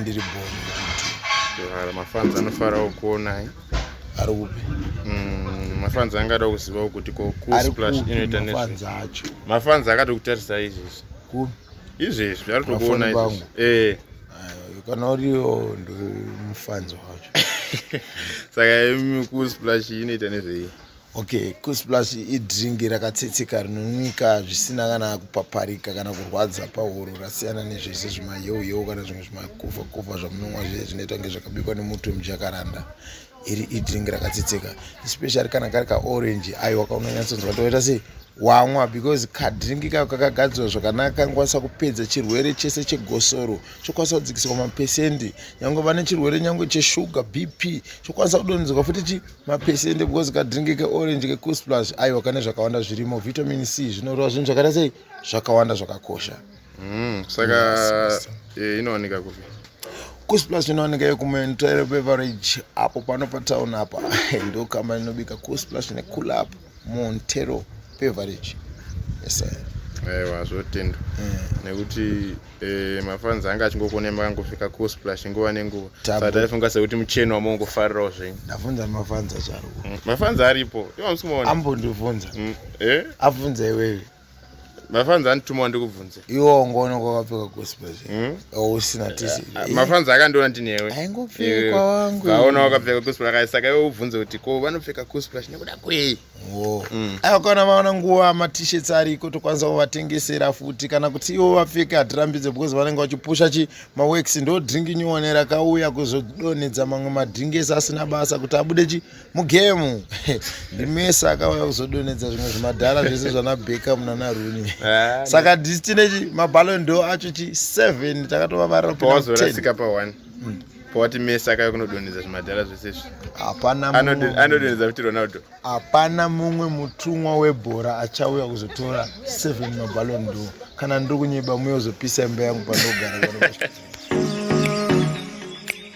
ndiri boni mafans anofarawo kuonai ari kupi mm, mafans angada kuzivawo kuti kokusplash inoita nezvi acho mafans akati kutarisa izvezvi kupi izvezvi ari tokuona izvezvi eh kana uriwo ndi mufans wacho saka imi kusplash inoita nezvei Okay, Kus Plus idringi rakatsetseka rinonwika zvisina kana kupaparika kana kurwadza pahuro rasiyana nezvese zvimayeuyewo kana zvimwe zvimakofakofa zvamunonwa zviye zvinoita kunge zvakabikwa nemuti wemujakaranda iri idringi rakatsetseka especially kana kari kaorange ayo wakaunonyatsonzwa toita sei wamwa because kadringi kayo kakagadzirwa zvakanaka kanokwanisa kupedza chirwere chese chegosoro chokwanisa kudzikiswa mapesendi nyange vane chirwere nyange cheshuga bp chokwanisa kudonhedzerwa futi chi mapesende because kadrink keorange kekusplush aiwa kane zvakawanda zvirimo vitamin c zvinorova zvinhu zvakaita sei zvakawanda zvakakosha mm, saka eh, inowanika kupi kusplush inowanika yekumentoero beverage apo pano patown apa ndokamba inobika kusplush nekulapa Montero Beverage. Yes sir. Aiwa zvotendwa eh. nekuti eh, mafans anga achingokonema kangofika kusplash nguva nenguva saka taifunga sekuti mucheno wamongofarirawo zvenyu ndavhunza mafans achariwo mm, mafans aripo ivo musikumaona ambondivhunza mm, eh? abvunza iwewe mafanzi andituma ndikubvunze iwo ngono kwakapfeka gosipa hmm? usina tisi ah, ah, mafanzi akandiona ndinewe aingopfekwa wangu vaona wakapfeka gosipa rakae saka iwe ubvunze kuti ko vanopfeka gosipa nekuda kwei hmm. aiwa kana vaona nguva matishets ariko tokwanisa kuvatengesera futi kana kuti ivo vapfeke hatirambidze because vanenge vachipusha chi maworks ndo drink nyuone rakauya kuzodonhedza mamwe madringesi asina basa kuti abude chi mugemu ndimese akauya kuzodonedza zvimwe zvimadhara zvese zvana beckham nana runi ah, saka disi tine chi mabalon do acho chi 7 takatovavarira pawazorasika pa 1 hmm. powati mese akauya kunodonedza zvimadhara zvese izvi hapana anodonedza kuti ronaldo hapana mumwe mutumwa webhora achauya kuzotora 7 mabalon do kana ndiri kunyeba muye uzopisa imba yangu panogara